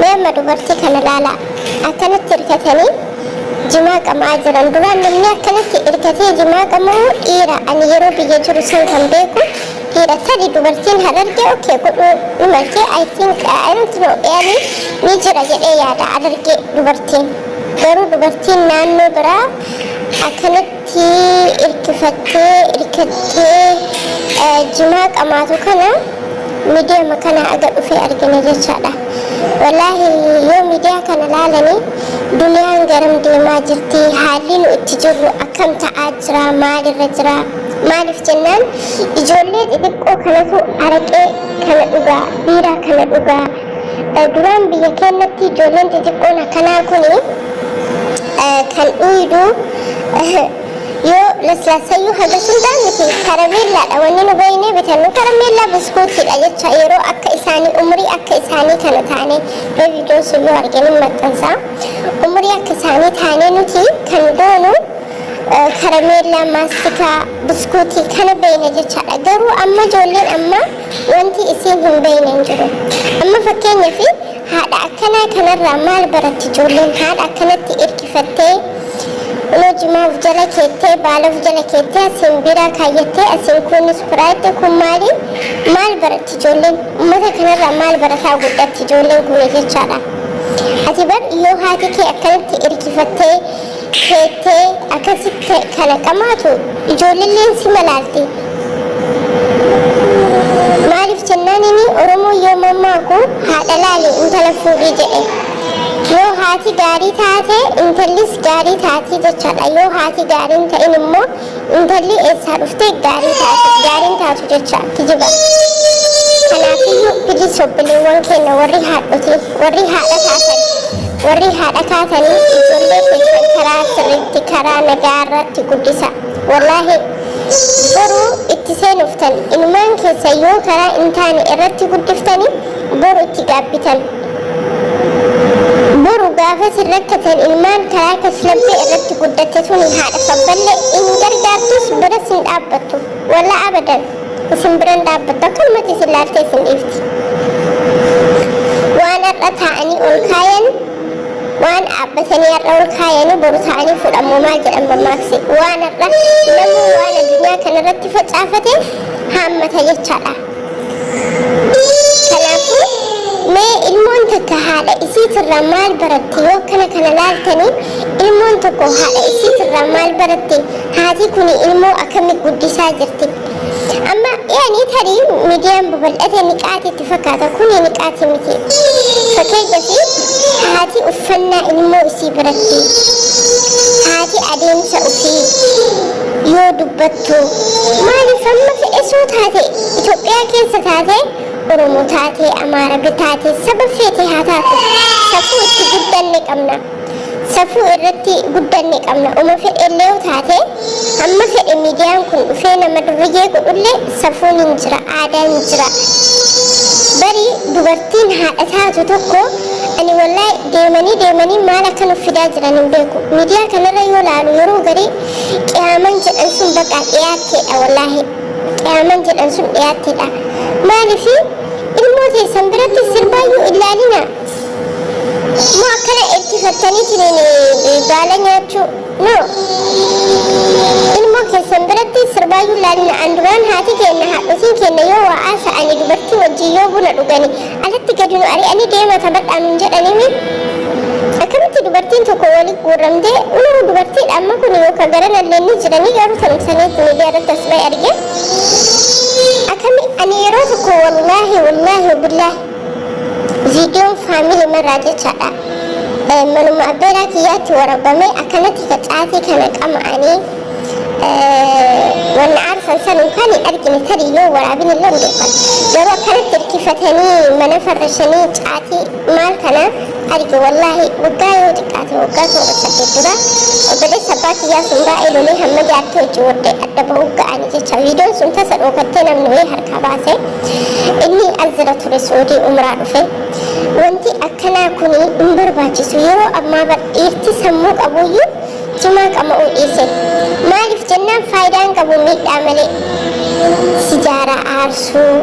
Mee amma dubartii kana ilaalaa. Akkanatti hirkatanii jimaa qamaa jiran. Duraan namni akkanatti hirkatee jimaa qama'u dhiira. Ani yeroo biyya jiru san kan beeku dhiira. Tadi dubartiin harargee okkee godhuu ni malti. I think I don't know yaani ni jira jedhee yaada harargee dubartiin. Garuu dubartiin naannoo biraa akkanatti Tii irkifattee irkattee jimaa qamaatu kana midiyama kana aga dhufee argine jechaadha wallaahi yoo midiyaa kana laalani duniyaan garam deemaa jirti haalli nu itti jirru akkam ta'aa jira maalirra jira maaliif jennaan ijoollee xixiqqoo kanatu araqee kana dhugaa biiraa kana dhugaa Duraan biyya keennatti ijoolleen xixiqqoon akkanaa kuni kan dhuuydu yoo laslaasayyuu haga hundaa miti karameellaadha wanni nu beeynee bitannu karameellaa buskuutiidha jecha yeroo akka isaanii umrii akka isaanii kana taane mee viidiyoon sun yoo argine hin maxxansa umrii akka isaanii taane nuti kan goonu karameellaa maastikaa buskuutii kana beeyna jechaadha garuu amma ijoolleen amma Wanti isiin hin beeyne hin jiru. Amma fakkeenyafi haadha akkanaa kanarraa maal baratti ijoolleen haadha akkanatti irkifattee kunoo jimaa of jala keettee baala of jala keettee asiin biiraa kaayyattee asiin kuun ispiraayitti kun maali maal baratti ijoolleen ummata kanarraa maal barataa guddatti ijoolleen kuni jechaadha. Ati bar yoo haati kee akkanatti irkifattee beektee akkasi kana dhamaatu ijoolleen si malaalti maaliif jennaan inni oromoo yoo mammaaku haadha laali intala fuudhii jedhe yoo haati gaarii taate intallis gaarii taati jechaadha yoo haati gaarii hin ta'in immoo Intalli eessaa dhufte gaarii taatu gaariin taatu jecha kijiba. Kanaafiyyuu bilis obboleewwan keenya warri haadhotii warri haadha taatan warri haadha taatanii ijoollee keessan karaa sirriitti karaa nagaa irratti guddisa. Wallaahi boru itti seenuftan inumaan keessa yoo karaa hin taane irratti guddiftanii boru itti gaabbitan. Boru gaafa isin rakkatan ilmaan karaa kashlabbee irratti guddatte tuni haadha sabballee in gargaartus biras hin dhaabbattu. Wallaa abadan isin biran dhaabbattu akkanumatti isin laaltee isin dhiifti. Waan har'a taa'anii ol kaayan waan dhaabbatanii har'a ol kaayanii boru taa'anii fudhamu maal jedhan mammaaksi waan har'a namuu waan addunyaa kanarratti facaafateef haammata jechaadha. Kanaafuu mee ilmoon takka haadha isiitirraa maal baratte yoo akkana kana laaltanii ilmoon tokko haadha isiitirraa maal baratte haati kuni ilmoo akkami guddisaa jirti amma yaani tarii miidiyaan babal'ate niqaati itti fakkaata kuni niqaati miti fakkeenyafi haati uffannaa ilmoo isii baratte haati adeemsa ofii yoo dubbattu jirtu maaliif amma fe'esuu taate Itoophiyaa keessa taate Oromoo taate Amaarabi taate saba feete haa taatu safuu itti guddanne qabna safuu irratti guddanne qabna uma fedhellee taate amma fedhe miidiyaan kun dhufee nama durriyyee godhullee safuun hin jira aadaan hin jira bari dubartiin haadha taatu tokko ani wallahi deemanii deemanii maal akka nuuf fidaa jiran hin beeku miidiyaa kanarra yoo laalu yeroo garii qiyaaman jedhan sun baqaa dhiyaatteedha wallaahi qiyaaman jedhan sun dhiyaatteedha maalifi ilmoo teessan biratti sirbaayyuu illaalina moo akkana erkifattaniitiin baala nyaachuu no ilmoo keessan biratti sirbaayyuu illaalina an duraan haati keenna haadhotiin keenna yoo waa haasa'ani dubartii wajjin yoo buna dhugani Alatti gadi nu ari'anii deemaa taphadhaa nuun jedhanimi. Akkamitti dubartiin tokko wali guurramtee unuu dubartiidha amma kuni yookaan garanallee ni jiranii garuu tanum saniif miidiyaa irratti as ba'e arge. Akkami ani yeroo tokko wallaahi wallaahi billaahi viidiyoon faamilii marraa jechaadha. Manuma abbeeraa kiyyaatti warabamee akkanatti facaatii kana qama'anii wanna aarsan san kan hin argine tarii yoo waraabin illee hin beekan garuu akkanatti hirkifatanii mana farrashanii caatii maal kana arge wallaahi waggaa yoo xiqqaate waggaa toora saddeet dura obboleessa abbaa kiyyaa sun baay'ee lolee hamma jaartii hojii wardee adda ba'uu ga'anii jecha viidiyoon sun tasa dhookattee namni wayii harkaa baase inni alzira ture suudii umraa dhufe wanti akkanaa kun hin barbaachisu yeroo ammaa bar dhiirti sammuu qabuyyuu Jimaa qama'uu dhiise. Maaliif jennaan faayidaa hin qabu miidhaa malee. Sijaaraa aarsuu,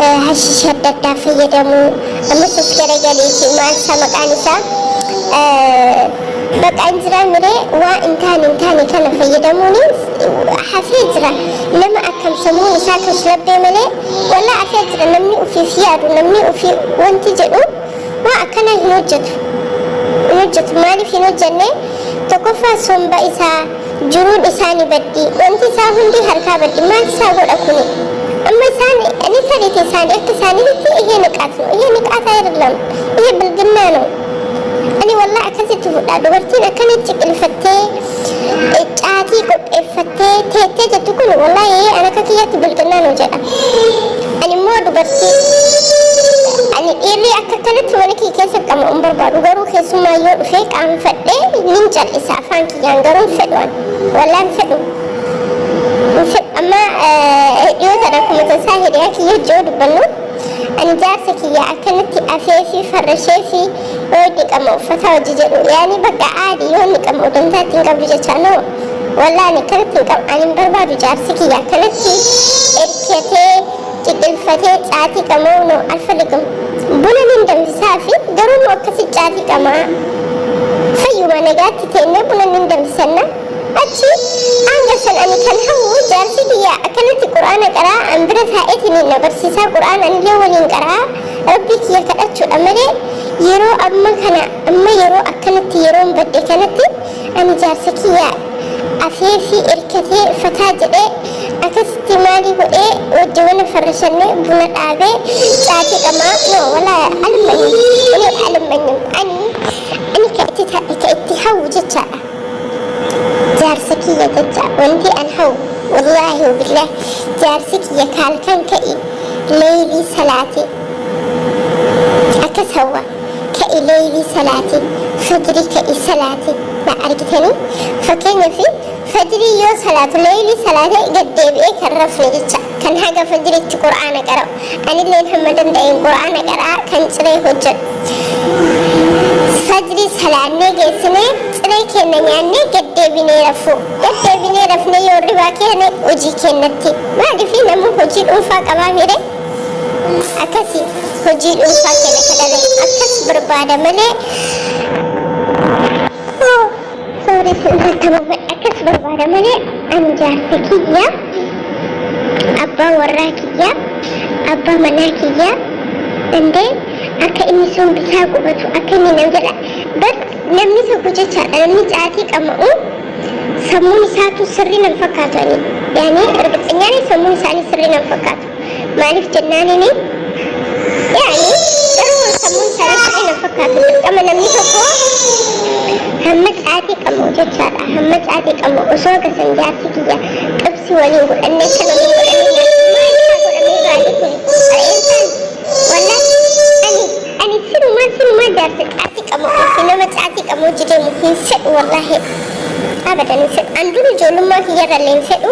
eh, hashiisha adda addaa fayyadamuu, amma suuf garagaleeti maal isaa maqaan isaa eh, baqaa hin jiraa miree waa hin taane hin taane kana fayyadamuun hafee jira. Nama akkam sammuun isaa kashlabbee malee walaa hafee jira namni ofiif yaadu namni ofii wanti jedhu Waa akkanaa hin hojjatu. Hin hojjatu. Maaliif hin hojjanne? Tokkoffaa somba isaa, jiruun isaa ni baddi. Wanti isaa hundi harkaa baddi. Maal isaa godha kuni? Amma isaan ni fedhite isaani akka isaaninitti ihe niqaat no ihe niqaat ayirlam ihe bilginnaa no ani wallah akkasitti fudhaa dubartiin akkana ciqilfattee Iccaatii qopheeffattee teettee jettu kun wallahi an akka kiyyatti bilxinnaa nu jedha. Ani immoo dubartii ani dhiirri akka kanatti mana kiyya keessa qamu hin barbaadu garuu keessummaa yoo dhufee qaanfadhee nin cal'isa afaan kiyyaan garuu hin fedhu an wallahi hin fedhu. Hin fedhu amma eh, dhiyoo sana akkuma tasaa hiriyaa kiyya hojii yoo dubbannu ani jaarsa kiyya akkanatti afee fi farrashee fi Hooy dhiqama uffataa hojii jedhu yaani bakka aadi yoo niqama udantaa ittiin qabdu jechaa no wallah ani akkanatti hin qabu ani hin barbaadu jaarsi kiyya akkanatti erkatee qiqilfatee caatii qama'u no alfaligum buna nin danfisaa fi garuu immoo akkasi caatii qamaa fayyuma nagaatti teennee buna nin danfisanna achi hanga san ani kan hawwu jaarsi kiyya akkanatti quraana qaraa an bira taa'eetiin na barsiisaa quraana anillee waliin qaraa Rabbii kiyya kadhachuudha malee yeroo amma kana amma yeroo akkanatti yeroon badde kanatti ani jaarsa kiyya afeefii erkatee fataa jedhee akasitti maalii godhee wajji mana farrashannee buna dhaabee caatii qamaa no walaa almanyim ani almanyim ani ani ka itti ta- ka itti hawwu jechaadha jaarsa kiyya jecha wanti an hawu wallaahi wabillah jaarsi kiyya kaalkan ka'i leeylii salaati akkas hawwa ka'i leeylii salaati fajri ka'i salaati na argitanii fakkeenyaaf fajrii yoo salaatu leeylii salaate gad deebi'ee kan rafne jecha kan haga fajriitti qur'aana qara'u Anilleen hamma danda'een Qur'aana qara'aa kan ciree hojjadhu. Fajrii salaannee geessinee ciree keenna nyaannee gad deebinee rafu. Gad deebinee rafnee yoo irribaa keene hojii keennatti. Maaliif namuu hojii dhuunfaa qabaa mire? Akkasi hojii dhuunfaa keenya ka dalagu akkas barbaada malee. Sooressi irratti ababaa akkas barbaada malee ani jaarsa kiyya abbaa warraa kiyya abbaa manaa kiyya dandee akka inni sun bitaa qubatu akka inni nam jedha bar namni tokko jechaadha namni caatii qama'u sammuun isaatu sirrii nam fakkaatu ani yaani erga xinyaanii sammuun isaanii sirrii nam fakkaatu Maaliif jennaanini yaani garuu sammuun isaanii sirrii na fakkaatu dirqama namni tokko hamma caatii qabu jechaadha hamma caatii qabu osoo gasan jaartii kiyya qibsi waliin godhanne kan waliin godhanne maal isaa godhamee baadii kun re'een isaan wallaan ani ani sinumaa sinumaa jaarsa caatii qabu ofi nama caatii qabu hojii deemu hin fedhu wallaahi abadan hin fedhu an dur ijoollummaa kiyyarra illee hin fedhu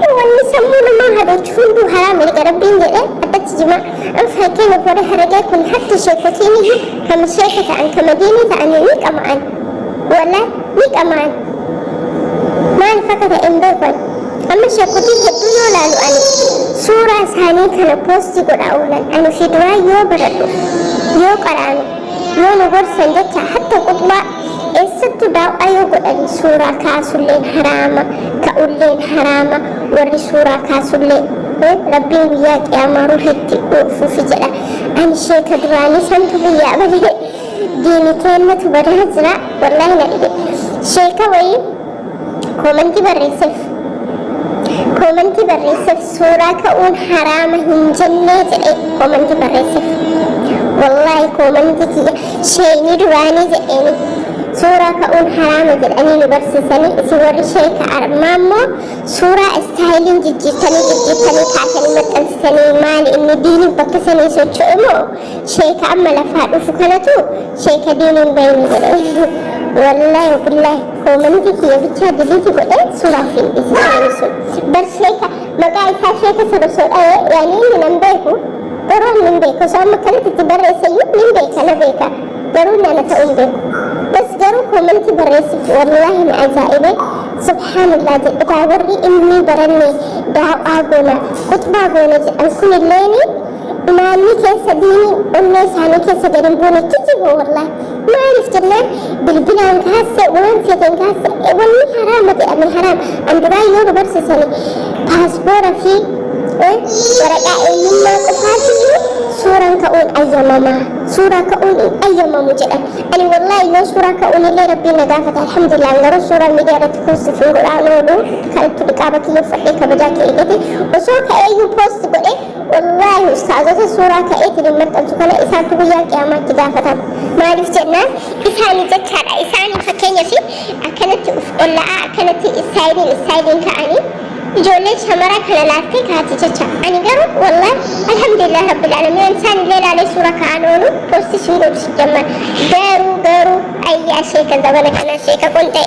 Mee wanni sammuu namaa hadoochu hunduu haraam erga Rabbiin jedhe addatti jimaa an fakkeenyaaf warri haragee kun hatti sheekotiiniyyu ka mushrika ta'an ka madiinii ta'anii ni qama'an wala ni qama'an maaliif akka ta'e hin beeku ani amma sheekotii hedduu yoo laalu ani suuraa isaanii kana poostii godhaa oolan ani fi duraa yoo baradhu yoo qaraanu yoo nu gorsan jecha hatta quxbaa Eessattu daaw'aa yoo godhan suuraa kaasulleen haraama, ta'ulleen haraama, warri suuraa kaasullee He, Rabbiin guyyaa qiyaamaa ruhitti uufuufi jedha. Ani sheeka duraanii santu biyyaa bahee diini teennatu badaa jira, wallaahi na dhibe. Sheeka wayii Koomantii barreesseef Koomantii barreesseef suuraa ka'uun haraama hin jennee jedhee koomantii barreesseef. Wallaahi koomantii kiyya sheeynii duraanii jedheeni suuraa ka'uun haraama jedhanii nu barsiisanii isin warri sheeka armaa immoo suuraa istaayiliin jijjiirtanii jijjiirtanii kaasanii maxxansitanii maali inni diiniif bakka sanii socho'e moo Sheeka amma lafaa dhufu kanatu sheeka diiniin bayni godhe wallahi billahi koomaniti kiyya bichaa diliiti godhe suuraa fi dhisi namni sun bar sheeka maqaa isaa sheeka sabasoo dhaye yaani inni nan beeku garuu inni hin beeku osoo amma kanatti itti barreessayyuu nin beeka na beeka garuu inni ana ta'uu hin beeku bas garuu koomaniti barreessif wallahi na ajaa'ibe subhaanallah jedhetaa warri inni barannee daawaa goona kutbaa goona jedhan kunilleeni Ilaalli keessa diinii onnee isaanii keessa gad hin buune kijiboo wallahi. Maaliif jennaan bilbilaan kaasse waan feeteen kaasse e, wanni haraama jedhame haraam. An duraa yoo nu barsiisani paaspoora fi e, waraqaa eenyummaa qofaatiyyuu suuraan ka'uun ayyamama. Suuraa ka'uun hin ayyamamu jedhan. Ani wallahi yoo suuraa ka'uun illee rabbiin na gaafata alhamdulillah garuu suuraa miidiyaa irratti poostii fi godhaan oolu kan itti dhiqaaba kiyya uffadhee kabajaa kee eegate osoo ka'eeyyuu poosti godhe Wallaahi ustaazota suuraa ka'ee ittiin maxxansu kana isaantu guyyaa qiyaamaatti gaafatama. Maaliif jennaan isaanii jechaadha. Isaanii fakkeenyaaf akkanatti uf olla'aa akkanatti istaayiliin istaayiliin ka'anii ijoolleen shamaraa kana laaltee kaati jecha. Ani garuu wallaahi alhamdulillah rabbil aalamiin isaan illee laalee suuraa ka'an oolu poostis hin godhu sijjamman. Garuu garuu ayyaa sheeka zabana kanaa sheeka qonxee.